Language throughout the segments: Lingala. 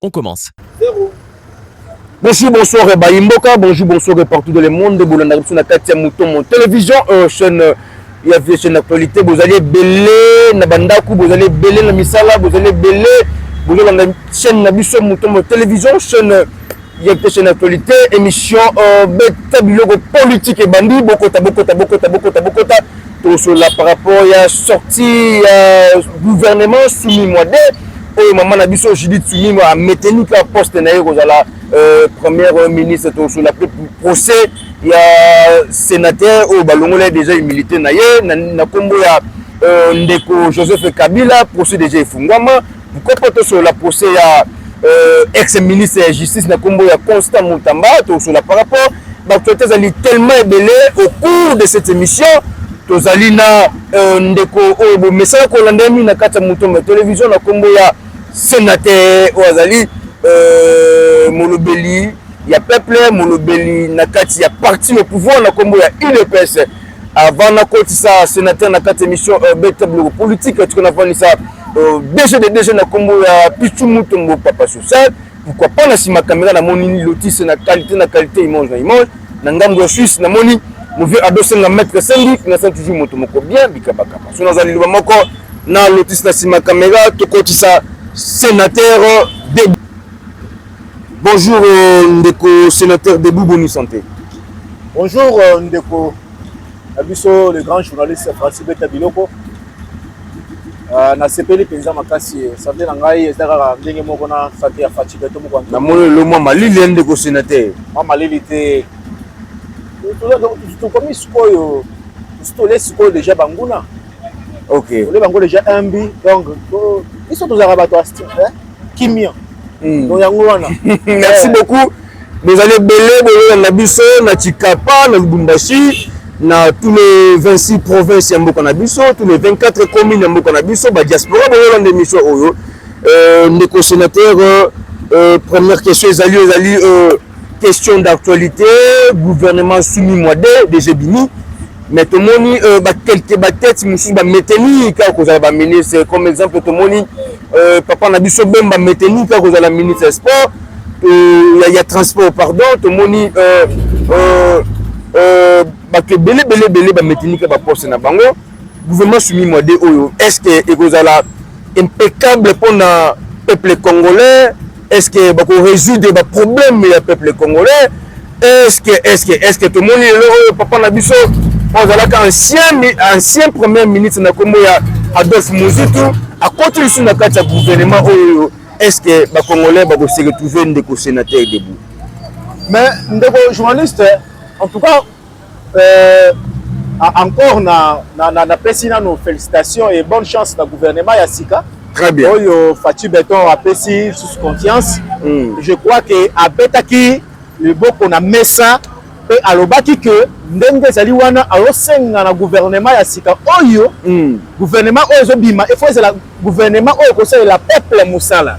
On commence. Zero. Bonjour, bonsoir, eh Bayi Mboka. Bonjour, bonsoir, eh, partout dans le monde. Bolanda biso na kati ya Mutombo Télévision, euh, chaîne euh, ya vie chaîne d'actualité. Bozali ebele na bandaku, bozali ebele na misala, bozali ebele bozolanda chaîne na biso Mutombo Télévision, chaîne euh, ya vie chaîne d'actualité, émission euh, beta biloko politique ebandi bokota bokota bokota bokota bokota. bokota. tosolola par rapport ya sortie ya gouvernement sumimwa de oyo mama na biso judith sumimwa ameteni kaka poste na ye kozala euh, première ministre tosolola mpe procès ya sénateur oyo balongola ye déjà humilité na ye na nkombo ya euh, ndeko joseph kabila procès déjà efungwama Mukoko tosolola procès ya euh, ex ministre ya justice na kombo ya Constant Mutamba tosolola par rapport baactualité ezali tellement ebele au cours de cette émission tozali na euh, ndeko oyo bomesana kolanda mingi na kati ya motombo ya televizio na kombo ya senateur oyo azali euh, molobeli ya peuple molobeli na kati ya parti au pouvoir na kombo ya udps Avant na kotisa sénateur na kati émission euh, beta biloko politique tuko na vanisa euh, DG de DG na kombo ya Pichu Mutombo Papa Social pourquoi pas na sima caméra na moni lotis na qualité na qualité image na image na ngambo ya Suisse na moni mon vieux Ado Senga maître Sengi na sa toujours moto moko bien bikabaka parce que na zali loba moko na lotis na sima caméra to kotisa sénateur de Bonjour euh, ndeko sénateur Debout Boni Santé. Bonjour euh, ndeko na biso le grand journaliste Francis Beta Biloko. Euh, nasepeli mpenza makasi sante na ngai eza kaka ndenge moko na sante ya faci beto moko namoni lelo mwa malili ya ndeko senateur mwa malili te tokomi sikoyo tosi tole sikoyo deja banguna ok tole bango deja imbi donc biso tozalaka bato ya style kimia hmm. donc yango wana merci beaucoup bozali ebele boyokana na biso na chikapa na lubumbashi na tous les 26 provinces ya mboka na biso tous les 24 communes ya mboka na biso badiaspora boyolanda émission oyo euh, ndeko sénateur euh, euh, première question ezali ezali question d'actualité gouvernement sumi mwade des ebimi mais tomoni bakelke batete mosusu bameteli kaka kozala baministre comme exemple tomoni Euh, papa na biso Bemba Metenika kozala ministre ya sport euh, ya, ya transport pardon tomoni euh, euh, euh, bato ebele ebele ebele bametenika baposte na bango gouvernement sumi mwade oyo est ce que ekozala impeccable mpo na peuple congolais est-ce que bako résoudre ba problème ya peuple congolais est-ce que est-ce que est-ce que tomoni lelo oyo papa na biso azalaka ancien ancien premier ministre na kombo ya Adolphe Muzitu akoti lisusu na kati ya gouvernement oyo est-ce que ba congolais bako se retrouver ndeko sénateur debout mais ndeko journaliste en tout cas Euh, encore na, na, na, na pesi nano félicitations et bonne chance na gouvernement ya sika. Très bien. Oyo Fatih Beton a pesi sous confiance. Mm. Je crois que abetaki le boko na mesa pe alobaki que ndenge ezali wana azosenga na gouvernement ya sika oyo mm. gouvernement oyo ezobima efo ezala gouvernement oyo ekosalela peuple mosala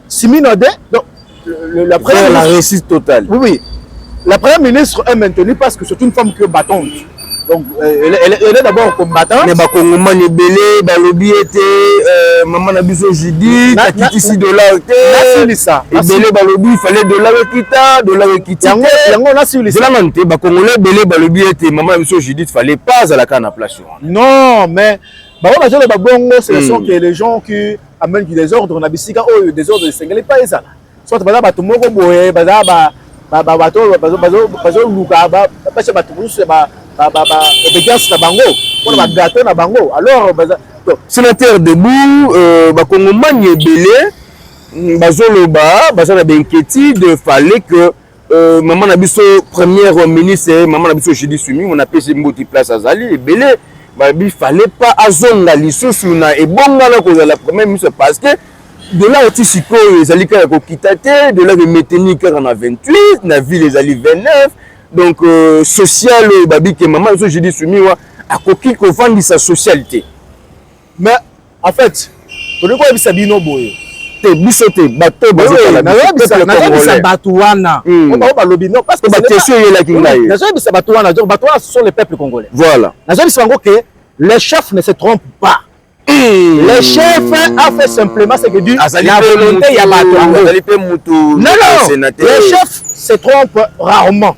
Simino de donc le, la première la réussite totale. Oui oui. La première ministre est maintenue parce que c'est une femme qui est battante. Donc euh, elle, elle, elle est d'abord combattante. Mais bakongomani ebele balobi ete euh, mama na biso Judith akitisi dollar te. Nasilisa. Ebele balobi il fallait dollar ekita, dollar ekiti. Yango yango nasilisa. Zela nanu te bakongolais ebele balobi ete mama na biso Judith fallait pas azalaka na place wana. Non mais baoyo bazoloba bongo ce sont hmm. que les gens qui amène du désordre na bisika oyo désordre esengeli pas ezala soit baza bato moko boye baza bato oyo bazoluka basha bato mosusu ya obédience na bango mpona bagâteau na bango alors sénateur debout euh, bakongomani ebele mm, bazoloba baza na bainquiétude fallait que Euh, maman na biso première ministre maman na biso Julie Sumingo na pesi mbote place azali ebele babi fallait pas azonga lisusu na ebonga na kozala premier ministre parce que dola oti sikoyo ezali kaka kokita te dola emeteni kaka na 28 na ville ezali 29 donc euh, social oyo babike mama biso judi sumiwa akoki kovandisa social te Mais en fait, tolingi koyebisa bino boye te biso te bato bazoyebisa bato wana hmm. bango balobi non parce que bakestion eyelaki ngai nazoyebisa bato wana donc bato wana ce sont les peuples congolais voilà nazoyebisa bango que le chef ne se trompe pas hmm. le chef a fait simplement ce que dit la volonté ya bato yango non non le chef se trompe rarement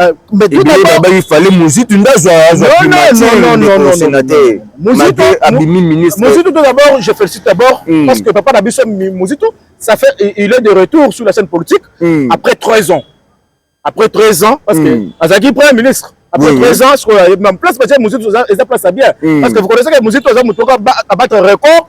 Ah, babaki fale muzitu nde azwamuzitu muzitu to d'abord je félicite d'abord hmm. parce que papa na biso muzitu ça fait il est de retour sur la scène politique hmm. après 13 ans après 13 ans parce que hmm. azalaki premier ministre après 13 ans sikoyo place batie muzitu eza place ya bien parce que vous connaissez que muzitu aza motoka abattre record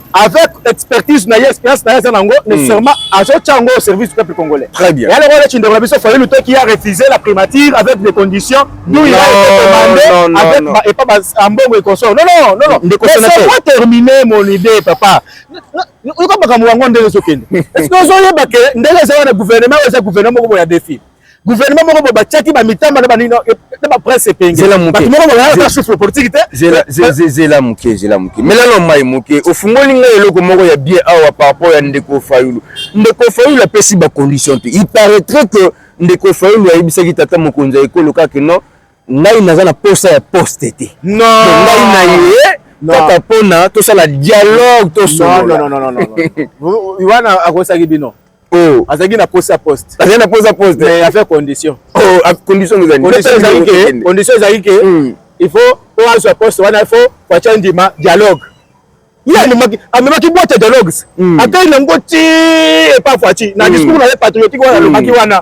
avec expertise na ye expérience na ye aza nango hmm. nécessairement azotya yango au service du peuple congolais très bien yale wana kindeko na biso fayulu to qui a refusé la primature avec des conditions d'où il a été demandé avec ba epa ba ambongo et consort non non non non ndeko sénateur pas terminer mon idée papa oyoka makambo yango ndenge ezokende est ce que ozoyeba ke ndenge eza wana gouvernement oyo eza gouvernement moko boya défi gouvernement moko bo batiaki ba mitamba na ba nino na ba presse epenge zela muke moko ba ya souffle politique te zela zela muke zela muke mela no mai muke ofungoli ngai eloko moko ya bien awa par rapport ya ndeko Fayulu ndeko Fayulu apesi ba conditions te il paraîtrait que ndeko Fayulu ayebisaki tata mokonzi ya ekolo kaka non ngai naza na posa ya poste te non ngai na ye kaka mpona tosala dialogue tosolola wana akosaki bino Oh. azalaki na posa poste azalaki na posa poste mais affaire condition oh, condition ezali ke condition ezali ke hmm. il faut po azwa poste wana il faut fatya ndima dialogue ye amemaki amemaki boite ya dialogues hmm. akai nango ti epa fatyi na hmm. discours na ye patriotique wana alobaki wana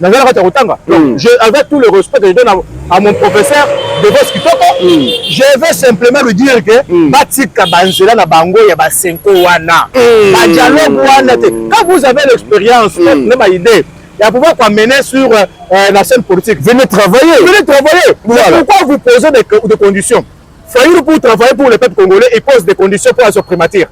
naza na kati ya kotanga hmm. je avec tout le respect que je donne à mon professeur devos kitoko hmm. je vais simplement lui dire que hmm. batika banzela na bango ya basenko wana badialogue wana te quand vous avez l'expérience na baidée ya pouvoir koamener sur euh, euh, la scène politique venez travailler venez travailler voilà. pourquoi vous posez des, des conditions Fayoulou pour travailler pour le peuple congolais il pose des conditions pour la primature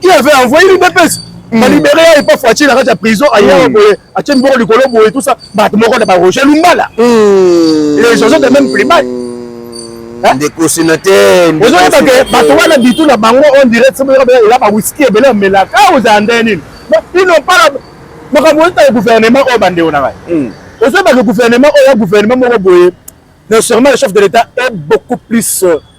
qui avait envoyé l'udps hmm. balibere ya epa foitie na kati ya prison ayaka hmm. boye atie miboko likolo boye tout ça bato moko na baroger lumbala hmm. les gens de même primate ndeko sénateur ozoyeba ke bato wana bitu na bango on dirait ela bawiski ebele omelaka ah, ozala nde nini ino mpala makambo ezotala gouvernement oyo bandeko na ngai ozoyeba ke gouvernement oyo ya gouvernement moko boye non seulement le chef de l'état est beaucoup plus euh,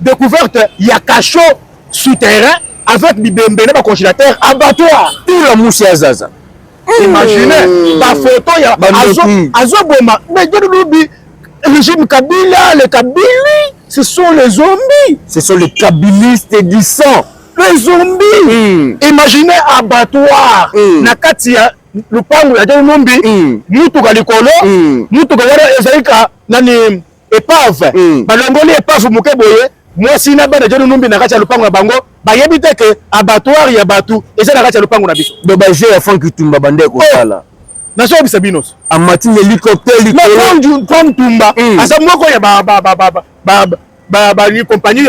Decouverte ya cachot souterrain avec bibembe na ba congélateur abattoir tout la musi ya zaza hmm. imagine ba photo ya azo boma mais je lobi régime Kabila les Kabili ce sont les zombies ce sont les kabilistes du sang les zombies hmm. imagine abattoir hmm. na kati ya lupangu ya John Numbi mutuka likolo mutuka wana ezali ka nani epave mm. balongoli epave moke boye mwasi na bana joni numbi na kati ya lopango na bango bayebi te ke abattoir ya bato eza na kati ya lopango na biso do baje ya frank itumba bande kosala oh. nazoyebisa bino amati na helicoptère likolo tumba mm. aza moko ya bacompagnie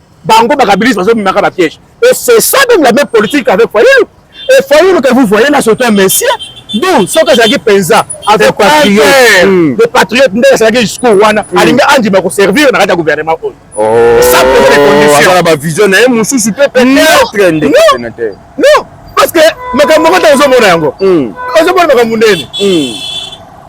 bango bakabilisi bazobimaka bapiège et c'est ça même la même politique avec fayulu et fayulu que vous voyez là surtout un messie donc soki azalaki mpenza avec hmm. de patriote nde asalaki discours wana hmm. alingi andima koservir na kati ya gouvernement oyo oh, na bavision na ye mosusu mpe peut-être nde non parce que makambo moko ntango ozomona yango hmm. ozomona makambo ndeni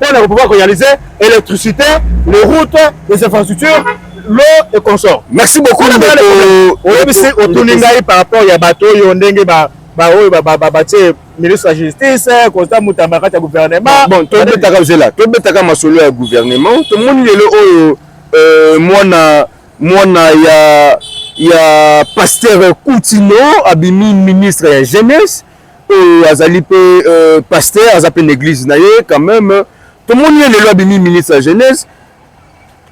mpo na kopouvoir korealiser électricité les routes les infrastructures l'eau et consort merci beaucoup oyebisi otuni ngai par rapport ya bato oyo ndenge ba baoyo batie ministre ya justice constant mutamba kati ya gouvernement bon tobetaka zela tobetaka masolo ya gouvernement tomoni lelo oyo euh, mwana mwana ya ya pasteur kutino abimi ministre ya jeunesse oyo azali mpe euh, pasteur aza mpe na église na ye quand même tomoni ye lelo abimi ministre ya jeunesse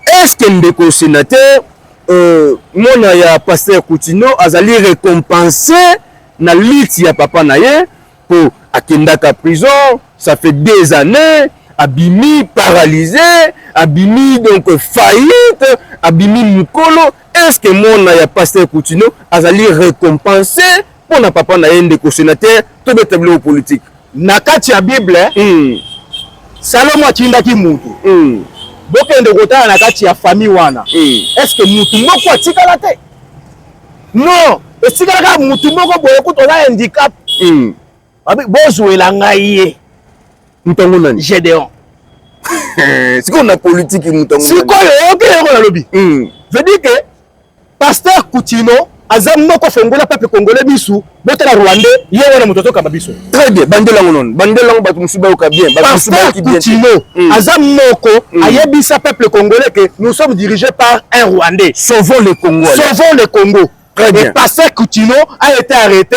est-ce que ndeko sénateur euh, mwana ya pasteur Coutino azali récompensé na liti ya papa na ye mpo akendaka prison ça fait des années abimi paralysé abimi donc faillite abimi mokolo est-ce que mwana ya pasteur Coutino azali récompensé mpo na papa na ye ndeko senateur tobeta biloko politike na kati ya bible mm. salomo atindaki motu mm. bokende kotala na kati ya famille wana mm. estce motu moko atikala te non etikala kaka motu moko boye kutu oza handicap mm. bozwela ngai ye motango nani gedeon sikoyo na politiki motango sikoyo oyoki yango nalobi mm. veut dire que Pasteur Kutino aza moko fongola peuple congolais bisu bota na rwandais ye wana moto azokamba biso très bien bandela yango nono bandela yango bato mosusu bayoka bien pasteur kutino hmm. aza moko hmm. ayebisa peuple congolais que nous sommes dirigés par un rwandais sauvons le congo sauvons le congo très bien pasteur kutino a été arrêté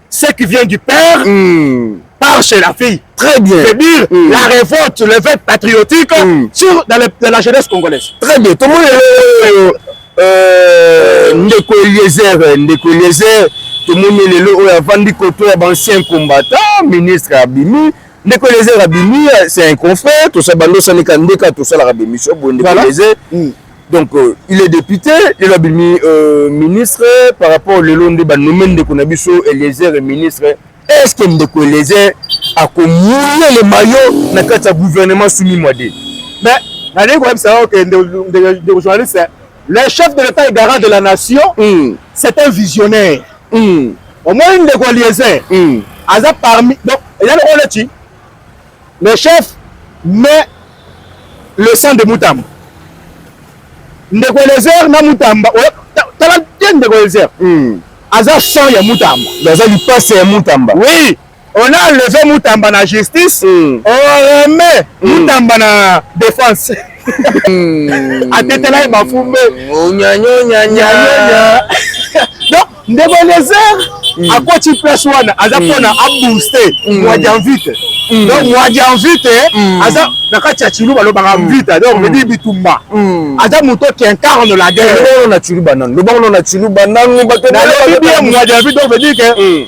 ce qui vient du père mm. part chez la fille. Très bien. C'est dire mm. la révolte, le fait patriotique mm. sur, dans, le, dans, la jeunesse congolaise. Très bien. Tout le monde est... Euh, ndeko eliezer ndeko eliezer tomoni lelo oyo avandi koto ya baancien combattant ministre abimi ndeko eliezer abimi c'est un confrère tosala bando osanika ndeka tosalaka bemission boye ndeko eliezer donc euh, il est député lelo abimi euh, ministre par rapport lelo nde banome ndeko na biso eliezer ministre est ce que ndeko eliezer akomouye le mayo na kati ya gouvernement sumi mwade mais nalingi koyebisa yo ke ndeko journaliste le chef de l'état et garant de la nation mm. c'est un visionnaire mm. omoni ndeko eliezer mm. aza parmi donc eza lokola neti Le chef mais le sang de Mutamba. Ndeko Eliezer na Mutamba, tala te Ndeko Eliezer. Mm. Aza sang ya Mutamba. Aza lipasa ya Mutamba. Oui. On a enlevé Mutamba na justice, mm. on remet mm. Mutamba na défense. Mm. Atetela ye bafumbe. Onyanyonyanyanya. Donc ndeko elezer mm. akoti place wana aza mpona mm. abooste mm. mwa janvite donc mwa janvite aza na kati ya ciluba alobaka mvita donc medi bitumba aza moto qui incarne la guerre na ciluba nano lobango na ciluba nano bato nalobi bien mwa janvite donc veut dire que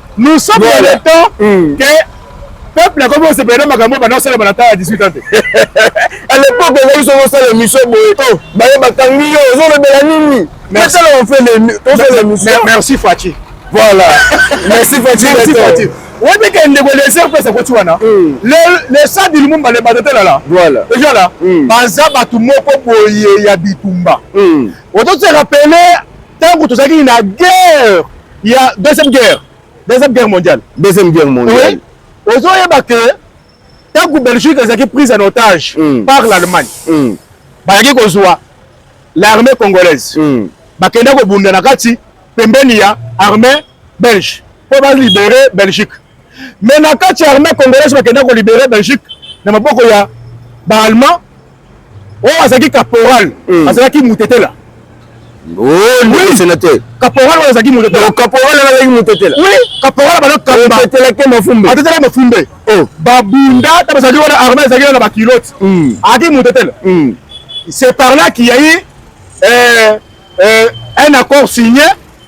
nous sommes dans le temps mm. que peuple akomi kosepela na makambo banda kosalama na temps ya 18 ans te à l'époque ozali soki osala émission boye oh. baye bakangi yo ozolobela nini esala ofele émission merci faci voilà merci faci merci faci oyebi ke ndeko leser mpe sakoti wana mm. le sadi lumumba le badatelala ejala mm. baza bato moko boye ya bitumba mm. ototiaka pele ntango tozalaki na guerre ya deuxième guerre deuxième guerre mondiale deuxième guerre mondiale oui. ozoyeba ke ntango belgique ezalaki prise en otage mm. par l'allemagne mm. bayaki kozwa l'armée congolaise mm. bakenda kobunda na kati pembeni ya armée belge mpo balibere belgique mais na kati ya armée congolaise bakenda ko libere belgique na maboko ya baalmand oyo oh, azalaki caporal hmm. azalaki mutetela oh, sénateur caporal oyo azalaki mutetela oh, caporal azalaki mutetela oui caporal bana kamba tetelaki mafumbe atetela mafumbe babunda ta bazali wana armée ezalaki na bakilote hmm. azalaki mutetela hmm. c'est par là qu'il y a eu euh, euh, un accord signé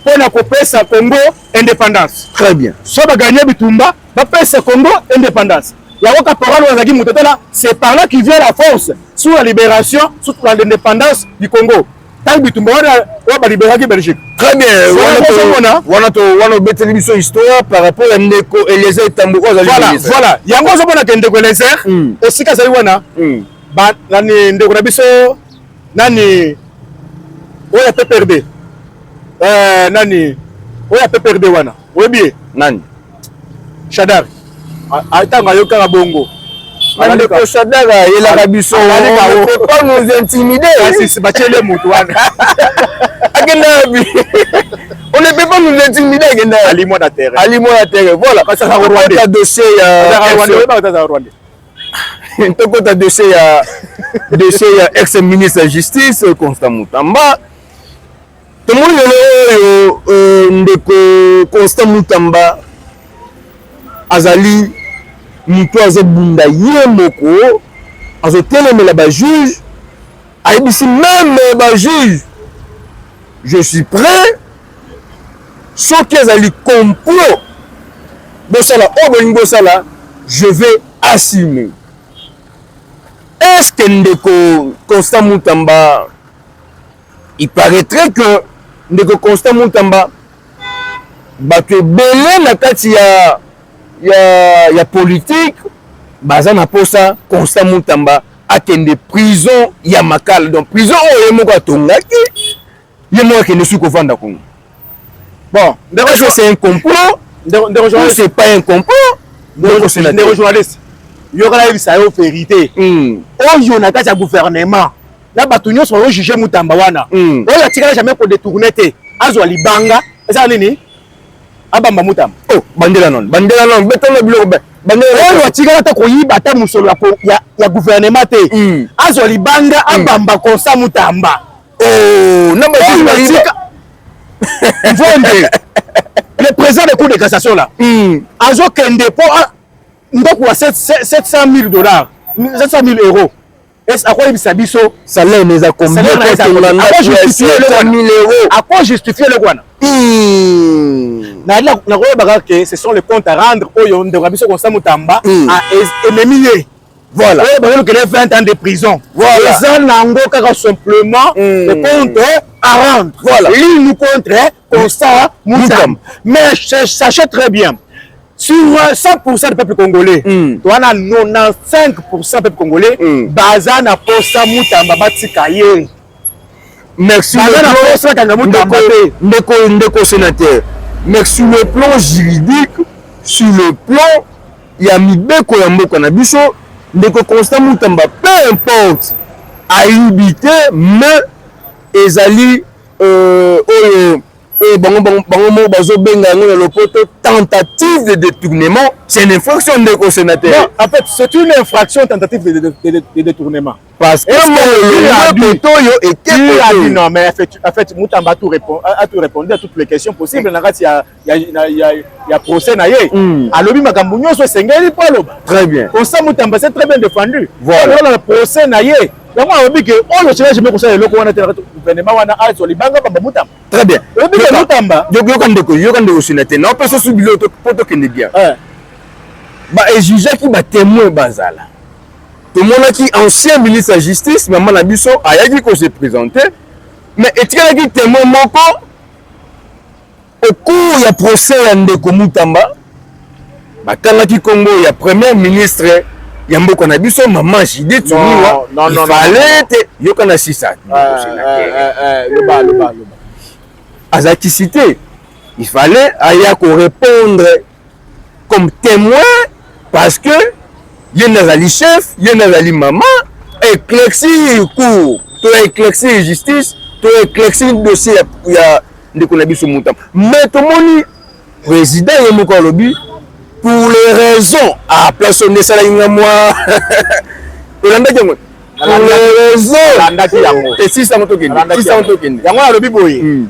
mpo na kopesa Congo indépendance. Très bien. So baganye bitumba bapesa Congo indépendance. Yango caporal azalaki moto tala, c'est par là qui vient la force sur la libération, sur l'indépendance du Congo. Tango bitumba wana oyo baliberaki Belgique. Très bien. Wana to wana obeteli biso histoire par rapport ya ndeko Eliezer Tambo oyo azali. Voilà, voilà. Yango ozomona ke ndeko Eliezer hmm. esika azali wana. Hmm. Ba nani ndeko na biso Nani oyo ya PPRD? Euh, nani oyo ya PPRD wana? Oyebi ye? Nani? Shadar. Atanga yo kaka bongo. Ndeko Shadar ayelaka biso. Pas nous intimider. Kasi si bachele mutu wana. Akenda wapi? On ne peut pas nous intimider akenda. Ali mwana terre. Ali mwana terre. Voilà. Kasi ça Rwanda. Dossier ya Rwanda. tokota dossier ya dossier ya ex ministre ya justice constant mutamba tomoni lelo oyo euh, ndeko constant mutamba azali moto azobunda ye moko azotelemela bajuge ayebisi meme bajuge je suis prêt soki ezali complot bosala oyo bolingi bosala je vais assumer est ce que ndeko constant mutamba il paraîtrait que ndeko constant mutamba bato ebele na kati ya, ya, ya politike baza na mposa constant mutamba akende prison ya makala donc prison oyo ye moko atongaki Ye moko akende soki kovanda kuna. Bon, ndeko je c'est un complot. Ndeko ndeko journaliste c'est pas un complot. Ndeko sénateur. Ndeko journaliste. Yo kala yebisa yo vérité. Hmm. Oyo na kati ya gouvernement. Na bato nyonso oyo juger mutamba wana. Hmm. Oyo atikala jamais ko détourner te. Azwa libanga. Eza nini? Abamba mutamba. Oh, bandela non. Bandela non. Betona biloko ba. Bandela oyo atikala ata koyiba ata musolo ya ya gouvernement te. Hmm. Azwa libanga abamba konsa mutamba. oh na mayi na tika mvonde le président de cour de cassation là hmm. azo kende po ah, ndako ya 700000 dollars 700000 euros est akoyebisa biso salaire na eza combienaako justifie eloko wana nakoyebaka ke ce sont les compte à rendre oyo ndeko ya biso constant motamba ememi ye voilà oyo bazolukela 20 ans de prison voilà eza nango kaka simplement mm. le compte à rendre voilà ligne contre constat mutam mais sachez très bien sur 100% du peuple congolais mm. towana 95% peuple congolais mm. baza na posa mutamba batika ye merci ndeko ndeko sénateur mais sur le plan juridique sur le plan ya mibeko ya mboka na biso ndeko constant mutamba peu importe ayibi te mais ezali euh, oyo oyo bango bango moko bazobenga yango na lopoto tentative de détournement c'est une infraction ndeko sénateur en fait c'est une infraction tentative de, de, de, de détournement Parce que le toyo était qui a dit non mais en fait, en fait Mutamba a tout répondu a tout répondu à toutes les questions possibles na kati ya ya ya ya procès na ye mm. alobi makambo nyonso esengeli mpo aloba très bien Osa Mutamba c'est très bien défendu voilà le procès na ye yango alobi ke oyo cela jamais kosala eloko wana te na kati gouvernement wana azwa libanga bamba Mutamba très bien alobi ke Mutamba yoka ndeko yoka ndeko sina te na opesa su bilo mpo tokende bien ba exigeaki ba témoin bazala Tomonaki ancien ministre ya justice mama na biso ayaki ko se presenter mais etikalaki temoin moko au cours ya procès ya ndeko Mutamba batangaki kombo ya premier ministre ya mboka na biso mama Judith Sumiwa ifale te yoka na sisa azalaki cite ifale aya ko répondre comme temoin parce que ye nde azali chef ye nde azali mama eclexir cour to eclexir justice to eclexir dossier ya, ya ndeko na biso motama mais tomoni président ye moko alobi pour les raisons à ah, place oyo nde esalaki nga mwa olandaki yango pour les raisons esisa motokende yango alobi boye hmm.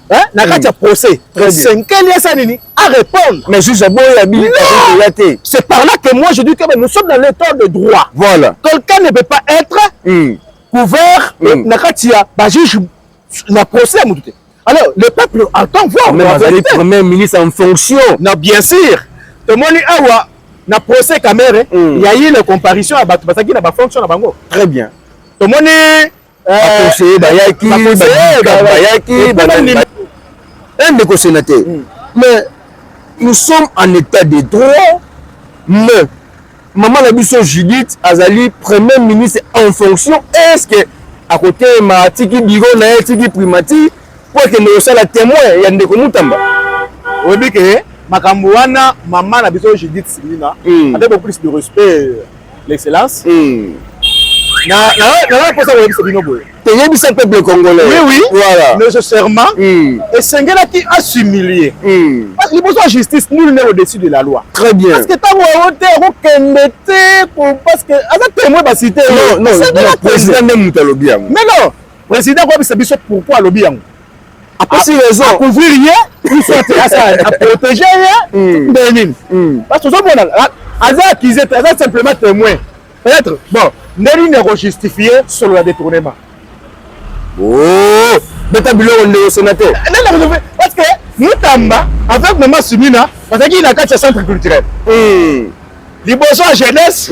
Hein? na kati ya procès esenkeli asa nini a répondre mais juge aboyi abiyaya te c'est par là que moi je dis que nous sommes dans l'état de droit voilà quelqu'un ne peut pas être mm. couvert mm. na kati ya bajuge na procès ya motu te alors le peuple entend voir même azali premier ministre en fonction na bien sûr tomoni awa na procès kamere mm. ya ye na comparution ya bato bazalaki na bafonction na bango très bien tomoni bakonseye bayaki bayaki eh, ndeko sénateur hmm. mais nous sommes en état de droit mais mama na biso judith azali premier ministre en fonction est ce que akotelema atiki biro na ye atiki primature mpo akende kosala témoin ya ndeko mutamba oyebi ke makambo wana mama na biso judith silina hmm. avec beaucoup plus de respect l'excellence mm. na na na na posa koyebisa bino boye toyebisa peuple congolais oui oui voilà nécessairement mm. esengelaki assumilie mm. liboso ya justice nul n'est au-dessus de la loi très bien parce que ntango yango te akokende te parce que aza témoin basi te non non président nde moto alobi yango mais non président akoyebisa biso pourquoi alobi yango apesi raison a couvrir ye il faut te asa a protéger ye hmm. ndenge nini hmm. parce que ozomona aza accusé te aza simplement témoin peut-être bon ndenge nini ya kojustifie solo ya détournement oh! beta biloko ndeko sénateur parce que mutamba avec mama simina bazalaki na kati ya centre culturel hmm. liboso ya jeunesse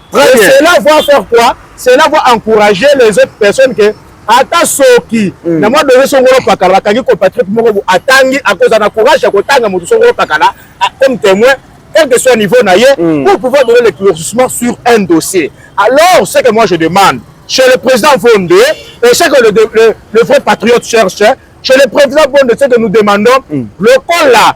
Très bien. Cela va faire quoi? Cela va encourager les autres personnes que ata soki mm. na mwa dozo songolo pakala bakangi compatriote moko atangi akozala na courage ya kotanga moto songolo pakala comme témoin quel que soit niveau na ye mm. pour pouvoir donner l'éclaircissement sur un dossier alors ce que moi je demande chez le président Vonde et ce que le, le, le vrai patriote cherche chez le président Bonde, ce que nous demandons, mm. le col là,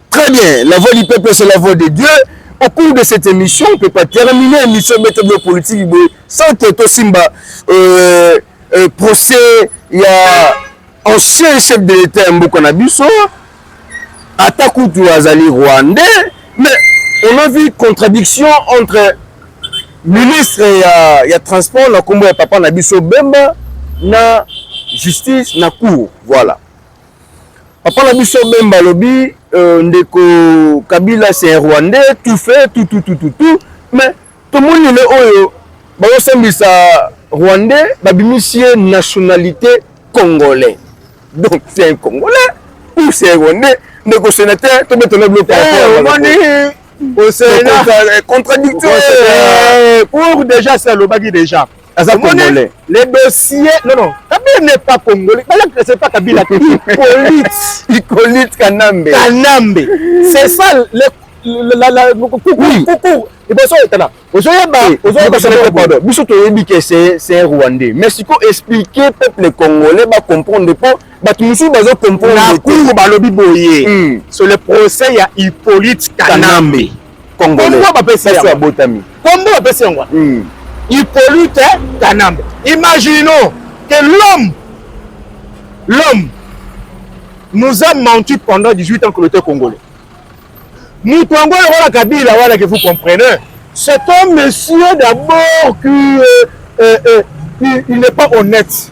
Très bien, la voix du peuple c'est la voix de Dieu. Au cours de cette émission, on ne peut pas terminer l'émission méthode de politique sans que toi Simba euh, euh, procès il y a ancien chef de l'État Mboko Nabiso, Ataku Tuazali rwandais, mais on a vu contradiction entre ministre ya, ya transport na kombo ya papa na biso Bemba na justice na cour voilà Papa na biso Bemba alobi euh, ndeko Kabila c'est un Rwandais tout fait tout tout tout tout tout mais tomoni lelo oyo bazosambisa Rwandais babimisi ye nationalité congolais donc c'est un Congolais ou c'est un Rwandais ndeko sénateur tobetana biloko eh, omoni au Sénat contradictoire eh, pour déjà ça alobaki déjà aza congolais le dossier non non kabila n'est pas congolais bala c'est pas kabila Hippolyte Hippolyte Kanambe Kanambe c'est ça le la la coucou coucou liboso etala ozoyeba ozoyeba pardon biso toyebi ke c'est c'est rwandais mais siko expliquer peuple congolais ba comprendre po bato mosusu bazo comprendre na cour balobi boye hmm. sur le procès ya Hippolyte Kanambe congolais biso abotami kombo bapesi yango hmm. ipolite kanambe imaginons que l'homme l'homme nous a menti pendant 18 ans que l'auteur congolais moto yango lokola kabila wana que vous comprenez c'est un monsieur d'abord qui euh, euh, euh, il, il n'est pas honnête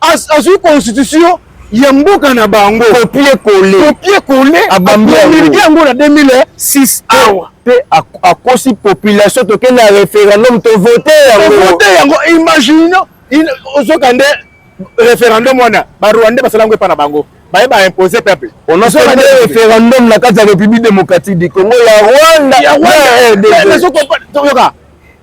azwi constitution ya mboka na bango copie colle copie colle abambi yango na 2006 awa mpe akosi population toke na référendum tovote yangovote yango imagine ozoka nde référendum wana barwandais basala yango epa na bango baye baimpose peuple onosonade référendum na kati ya république démocratique du congo ya rwanda ya rwanda eh, eh, eh, toyoka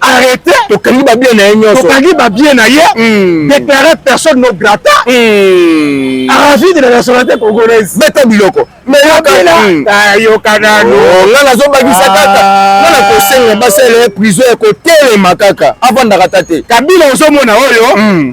arrete tokangi ba bien na ye nyonso tokangi ba bien na ye hmm. déclarer personne non grata hmm. aravide na nationalité congolaise beta biloko meyokana hmm. ayoka nanu oh, nga nazobakisa ah. kaka nga na kosenga basala ye prison ya kotelema kaka avandaka ta te kabila ozomona oyo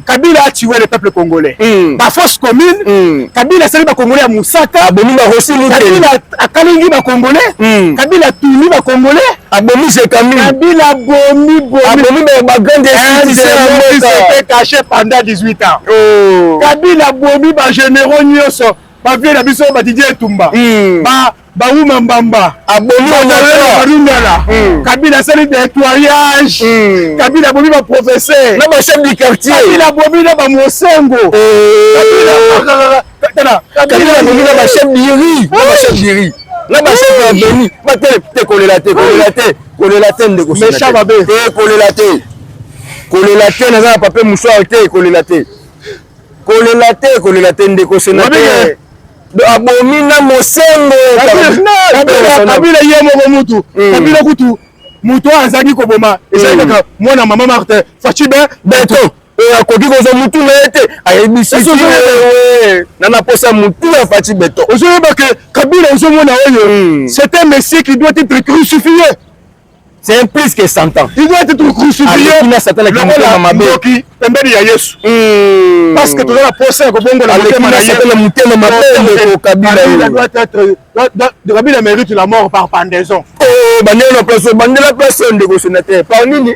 kabila atiwe le peuple congolais bafosse commune kabila asali bacongolais ya mosaka abomi barosi kabila akalingi bacongolais kabila atuni bacongolais abomi se kami kabila abomi abomi ba grande institution caché pendant 18 ans oh. kabila abomi ba généraux nyonso ba vie na biso ba Didier Etumba hmm. ba bawuma mbamba abomibarundala hmm. kabila asali nettoyage hmm. kabila abomi baprofesseur na bachef du quartier kabila abomi na bamosengo eh. tala kabila amemi na bachef diri na bachef diri na bachef ya beni batele te kolela te kolela te kolela te ndeko mecha mabe te kolela te kolela te naza na papier mouchoir te kolela te kolela te kolela te ndeko senateur abomi na mosengo kabila ye moko mutu hmm. kabila kutu moto oyo azalaki koboma ezali hmm. kaka mwana mama martin faci be beton oyo akoki kozwa mutu na ye te ayebisiwewe na naposa mutu ya faci beton ozoyeba ke kabila ozomona oyo hmm. c'est un messie qui doit être crucifié c'est plus que santan il doit être crucifiéna satana kimotema mabeoki pembeni ya yesu hmm. parce que toza na posa ya kobongola motema na yesatana motema mabendeko kabilakabila mérite la mort par pendaison oh, bandela na place bandela place ndeko sénateur par nini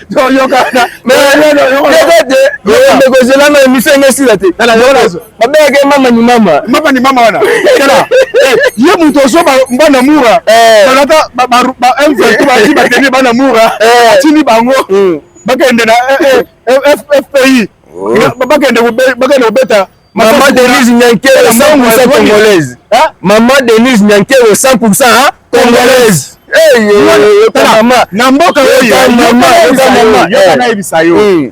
mekozela na emission enge esila te babengaka ye mama ni mama mama ni mama wana ye moto ozoba bana mura balata m23 bati bateni bana mura atini bango bakende na fpi bakende kobeta Maman Denise Nyankero 100% congolaise. Hein? Maman Denise Nyankero 100% hein? congolaise. Hey, yo, yo, mama. Na mboka oyo yo mama, yo mama. Yo na yebisa yo. Hmm.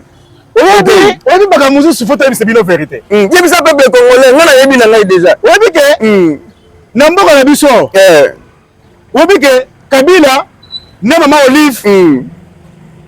oyebi oyebi makambo mosusu fo toyebisa bino verité hmm. yebisa peuple congolais ngai nayebi na ngai déjà oyebi ke hmm. na mboka na biso eh. oyebi ke kabila na mama olive mm.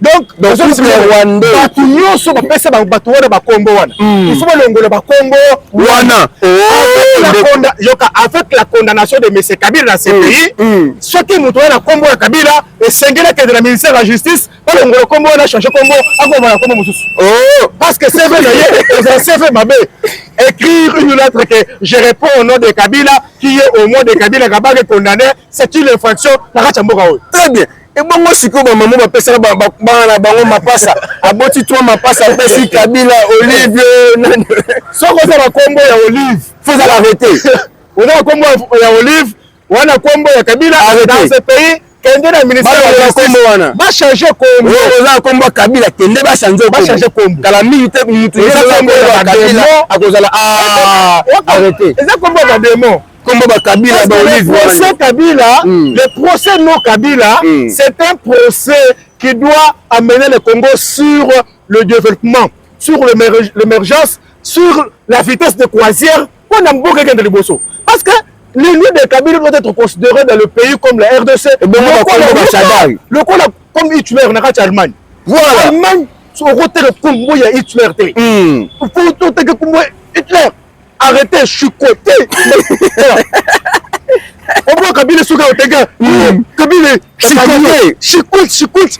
donc bato nyonso bapesa bato wana bakombo wana hmm. il faut balongola bakombo wana oh, yoka avec la condamnation de monsieur kabila na cpi hmm. hmm. soki moto wana kombo ya kabila esengeli akende na ministère ya justice balongola kombo wana change kombo akoma na kombo mosusu oh, parce que cv na ye eza cv mabe écrire une lettre que je réponds au nom de kabila qui est au nom de kabila kabake condamné c'est une infraction na kati ya mboka oyo très bien ebongo sikoyo bamama bapesaka bana na bango mapasa aboti twa mapasa apesi kabila olive soki oza na kombo ya olive fozala arrete oza na kombo ya olive wana kombo ya kabila dans ce pays kende na ministère ya justice wana ba changer kombo oza kombo ya kabila kende ba changer kombo ba changer kombo kala mingi te mutu eza kombo ya kabila akozala ah arrêter eza kombo ya demon kombo ba kabila ba olive le procès kabila hmm. le procès non kabila hmm. c'est un procès qui doit amener le Congo sur le développement sur l'émergence sur la vitesse de croisière Mpo na mboka ekende liboso. Parce que l'ennemi de Kabila doit être considéré dans le pays comme la RDC. Lokola comme Hitler na kati ya Allemagne. Voilà. Allemagne okoteka kombo ya Hitler te. Hmm. Faut oteka kombo ya Hitler. Arrêtez, je suis coté. Au moins Kabila soki oteka hmm. Kabila chikote, chikote, chikote.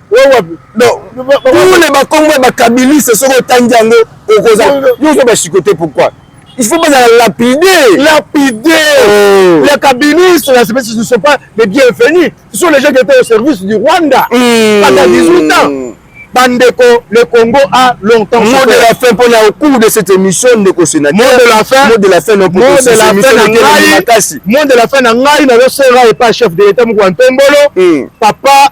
tule bakombo ya bakabiliste soki otangi yango okoza yozo bashikote pourquoi il faut bazala lapide lapide oh. les kabilistes là ce ne sont pas les bienvenus ce sont les gens qui étaient au service du Rwanda hmm. pendant 18 ans bandeko le congo a longtemps mot de la fin mpona au cours de cette émission ndeko sénateur mot de la fin mot de la fin mot de la fin na ngai mot de la fin na ngai nazosenga epa chef de l'état mokua ntombolo hmm. papa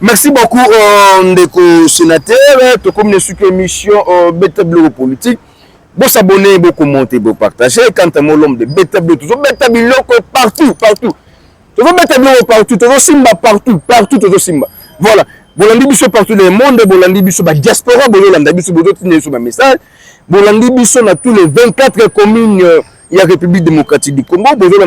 Merci beaucoup euh, ndeko sénateur tokomi na suki émission euh, beta biloko politique bosabone bokommente bopartage quant à moi l'homme de beta biloko tozobeta biloko partout partout tozobeta biloko partout tozosimba partout partout tozosimba voilà bolandi biso partout dans le monde bolandi biso badiaspora bozolanda biso bozotinda biso bamessage bolandi biso na tous les 24 communes euh, ya république démocratique du congo bozolanda